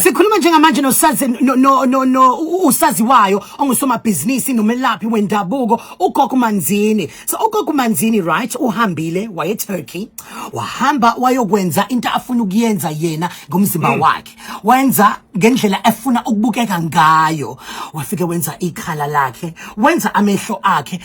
Sikhuluma njengamanje nosazi no no no, no usaziwayo ongusomabhizinisi nomelaphi wendabuko uGogo Manzini. So uGogo Manzini right uhambile waye Turkey wahamba wayokwenza into afuna ukuyenza yena ngomzimba mm. wakhe. Wenza ngendlela efuna ukubukeka ngayo. Wafike wenza ikhala lakhe, wenza amehlo akhe,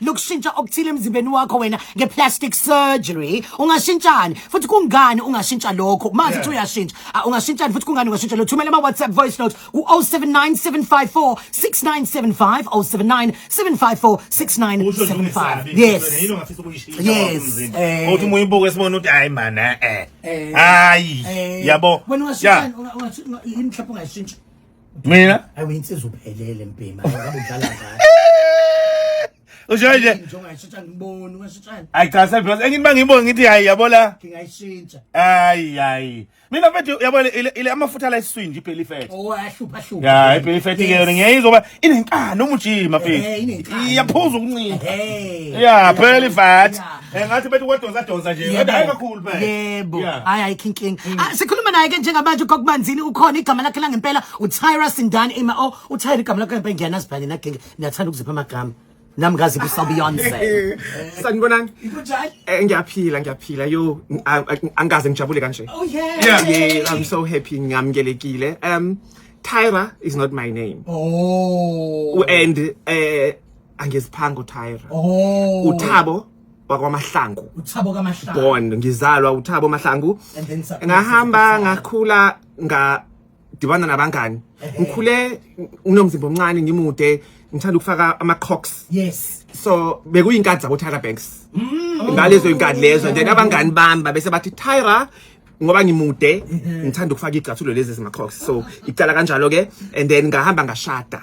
lokushintsha okuthile emzimbeni wakho wena ngeplastic surgery ungashintshani futhi kungani ungashintsha lokho mazi ukuthi uyashintsha ah, ungashintshani futhi kungani ungashintsha lo thumela ama WhatsApp voice note ku 0797546975 0797546975 yes yes eh. uthi muyibuke sibona ukuthi hayi man eh, eh. eh. hayi yabo wena ungashintsha ungashintsha mina hayi uyinsizwa uphelele mpima ngabe udlala ngayo usho nje njengayishintsha ngiboni ungashintshani hayi cha sebhiyosi engithi bangibonge ngithi hayi yabo la ngingayishintsha hayi hayi mina mfethu yabo ile amafutha la esiswini nje ipheli fethu oh ahlupha ahlupha ya ipheli fethu ke yona ngiyayizwa uba inenkani umujima eh, fethu iyaphuza ukuncinza eh, ya pheli fat Eh ngathi bethi wadonsa donsa nje. Yebo. Kodwa hayi kakhulu phela. yebo Yeah. hayi ayikho inkinga Ah, sikhuluma naye ke njengamanje kokubanzini ukhona igama lakhe langempela utyra sindani ima o utyra igama lakhe langempela ngiyanazi phela nina genge niyathanda ukuzipha amagama nami ngaziphi sabeyonce Eh, sanibonani Kunjani? Eh, ngiyaphila ngiyaphila yo n- a- a- angikaze ngijabule kanje Oh yeah. Yeah. yeah i'm so happy ngiyamukelekile um tyra is not my name Oh. and eh angiziphanga uTyra oh uThabo wakwaMahlangu uThabo kaMahlangu born ngizalwa uThabo Mahlangu ngahamba ngakhula nga dibana nabangani ngikhule nginomzimba omncane ngimude ngithanda ukufaka ama crocs yes so bekuyinkadi zabo Tyra Banks mm. ngalezo inkadi lezo then abangani bami babese bathi Tyra ngoba ngimude ngithanda ukufaka igcathulo lezi zima crocs so icala kanjalo ke and then ngahamba ngashada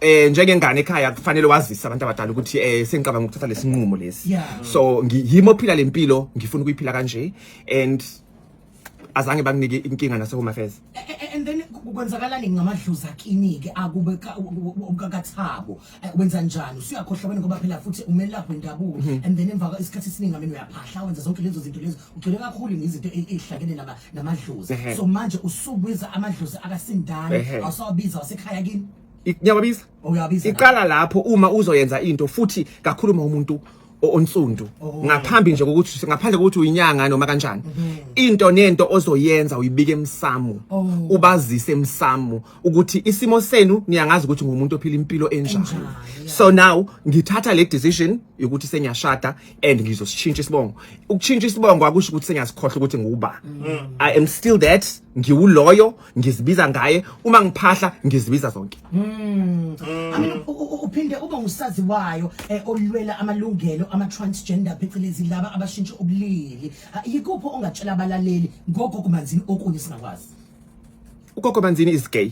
eh njengengane ekhaya kufanele wazise abantu abadala ukuthi eh sengicabanga ukuthatha lesinqumo lesi Yeah. so ngiyimo phila lempilo ngifuna ukuyiphila kanje and azange banginike inkinga nase home affairs A- a- and then ku- kwenzakalani ngamadlozi akini-ke akube ka- u- u- u- kakathabo Eh, wenza njani usuyakhohlakweni ngoba phela futhi umelaphi wendabuko and then emva kwa- isikhathi esiningi ameni uyaphahla wenza zonke lezo zinto lezo ugcwele kakhulu ngezinto e- ezihlakene nama- namadlozi Ehhe. so manje usubiza amadlozi akasindane Ehhe. awusawabiza wasekhaya kini I- ngiyawabiza uyabiza iqala lapho uma uzoyenza into futhi kakhulu uma umuntu o- onsundu Oh. ngaphambi nje kokuthi ngaphandle kokuthi uyinyanga noma kanjani into nento ozoyenza uyibike emsamo Oh. ubazise emsamo ukuthi isimo senu niyangazi ukuthi ngumuntu ophila impilo enjani Enjani, yeah. so now ngithatha le decision yokuthi sengiyashada and ngizosishintsha isibongo ukushintsha isibongo akusho ukuthi sengiyasikhohle ukuthi nguba mm. i am still that ngiwuloyo ngizibiza ngaye uma ngiphahla ngizibiza zonke mm. Mm. uphinde ube usazi wayo eh, olwela amalungelo ama transgender phecelezi laba abashintsha ubulili yikupho ongatshela abalaleli ngoko kumanzini okunye singakwazi ugogo manzini is gay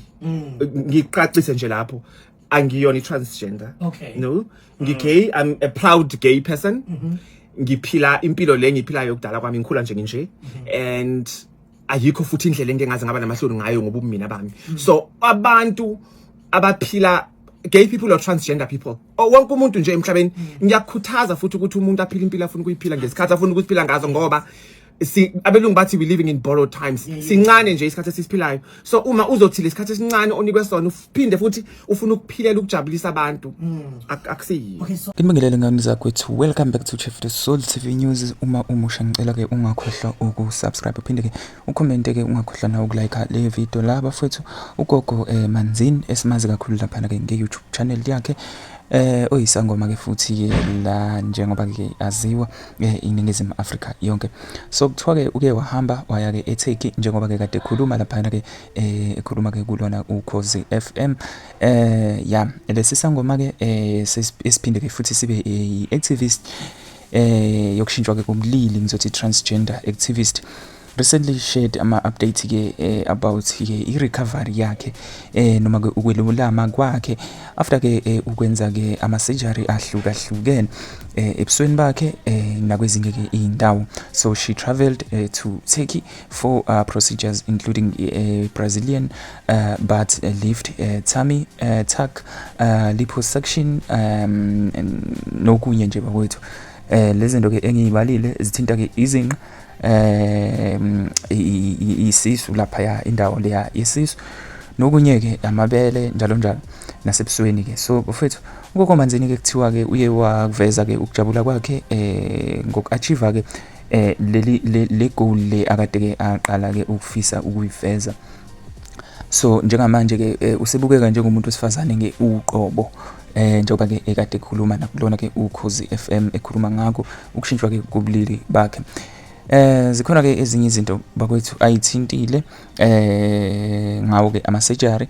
ngiqaqise nje lapho angiyona i-transgender Okay. no ngigay i'm a proud gay person ngiphila impilo le ngiphilayo kudala kwami ngikhula nje nginje and ayikho futhi indlela engike ngaze ngaba namahloni ngayo ngoba ubumina bami so abantu abaphila gay people or transgender people or wonke umuntu nje emhlabeni ngiyakukhuthaza futhi ukuthi umuntu aphile impilo afuna ukuyiphila ngesikhathi afuna ukuziphila ngazo ngoba si abelungu bathi we living in borrowed times sincane nje isikhathi esisiphilayo so uma uzothi lesikhathi esincane onikwe sona uphinde futhi ufuna ukuphilela ukujabulisa abantu mm. akusiyiyo Ngibingelele ngani zakwethu welcome back to Chef the Soul TV News uma umusha ngicela ke ungakhohlwa ukusubscribe uphinde ke ucomment ke ungakhohlwa na ukulike le video la bafethu ugogo eh, Manzini esimazi kakhulu lapha ke nge YouTube channel yakhe eh oyisangoma ke futhi la njengoba ke aziwa eh, iningizimu Afrika yonke so kuthiwa ke uke wahamba waya ke eTurkey njengoba ke kade ekhuluma lapha ke eh, ekhuluma ke kulona ukhozi FM eh ya lesi sangoma ke eh, esiphinde ke futhi sibe i activist eh yokushintshwa ke komlili ngizothi transgender activist recently shared ama updates ke eh, about ke i recovery yakhe eh noma ke ukwelulama kwakhe after ke eh, ukwenza ke ama surgery ahluka hlukene eh, ebusweni bakhe eh, nakwezinye ke indawo so she traveled eh, to Turkey for uh, procedures including eh, Brazilian uh, but uh, lift uh, tummy uh, tuck uh, liposuction um, nokunye nje bakwethu eh lezinto ke engiyibalile zithinta ke izinqa eh isisu lapha ya indawo leya isisu nokunye ke amabele njalo njalo nasebusweni ke so bafethu ukoko manzini ke kuthiwa ke uye wakuveza ke ukujabula kwakhe eh ngokuachieve ke eh leli le goal le akade ke aqala ke ukufisa ukuyiveza so njengamanje ke eh, usebukeka njengomuntu wesifazane ngeuqobo Eh njengoba ke ekade ekhuluma nakulona ke ukhozi FM ekhuluma ngakho ukushintshwa ke kubulili bakhe. Eh zikhona ke ezinye izinto bakwethu ayithintile eh ngawo ke ama surgery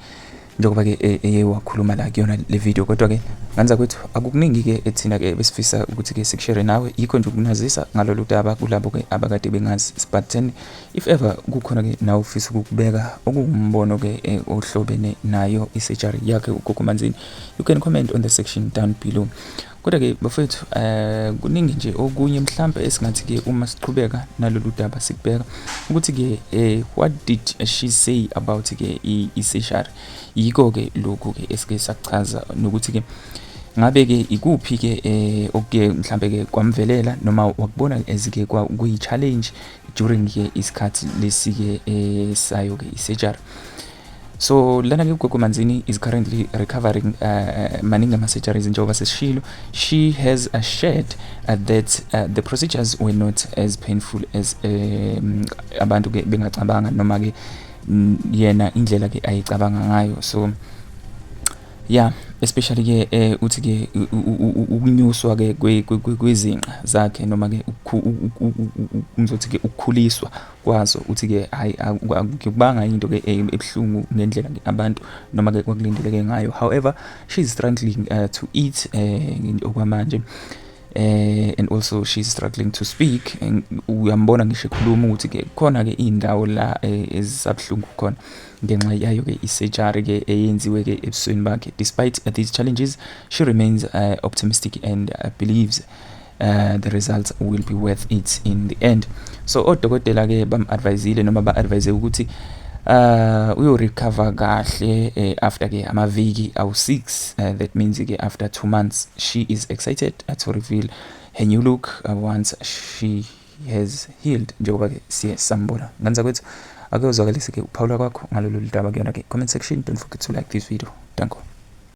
njengoba ke e, eye wakhuluma la kuyona le video kodwa ke nganza kwethu akukuningi ke ethina ke besifisa ukuthi ke sikushare nawe yikho nje ukunazisa ngalolu daba kulabo ke abakade bengazi sibatheni if ever kukhona ke nawe ufisa ukubeka okuwumbono ke e, ohlobene nayo isurgery yakhe ugogo manzini you can comment on the section down below kodwa ke bafethu um kuningi nje okunye mhlampe esingathi ke uma siqhubeka nalolu daba sikubheka ukuthi ke um what did she say about ke i-seshari yiko ke lokhu ke esike sakuchaza nokuthi ke ngabe ke ikuphi ke eh okuke mhlambe ke kwamvelela noma wakubona ezike kwa kuyi challenge during ke isikhathi lesike eh sayo ke isurgery So lana ke uGogo Manzini is currently recovering uh, uh maningi ama surgeries njengoba sesishilo she has assured uh, that uh, the procedures were not as painful as um, abantu ke bengacabanga noma ke yena indlela ke ayicabanga ngayo so yeah especially ke eh uthi ke ukunyuswa ke kwezinqa zakhe noma ke ngizothi ke ukukhuliswa kwaso uthi ke hayi akubanga into ke eh, ebuhlungu ngendlela abantu noma ke kwakulindeleke ngayo however she's struggling uh, to eat eh, okwamanje eh and also she's struggling to speak uyambona ngisho ekhuluma ukuthi ke khona ke indawo la eh, ezisabhlungu khona ngenxa yayo ke isurgery ke eyenziwe ke ebusweni bakhe despite these challenges she remains uh, optimistic and uh, believes uh, the results will be worth it in the end so odokotela ke bam-advisile noma ba-advise ukuthi uh uyorecover kahle eh, after ke amaviki awu-6 uh, that means ke after two months she is excited uh, to reveal her new look uh, once she has healed njengoba ke siye sambona nganza kwethu ake uzwakalise ke ukuphawula kwakho ngalolu ludaba kuyona ke comment section don't forget to like this video danko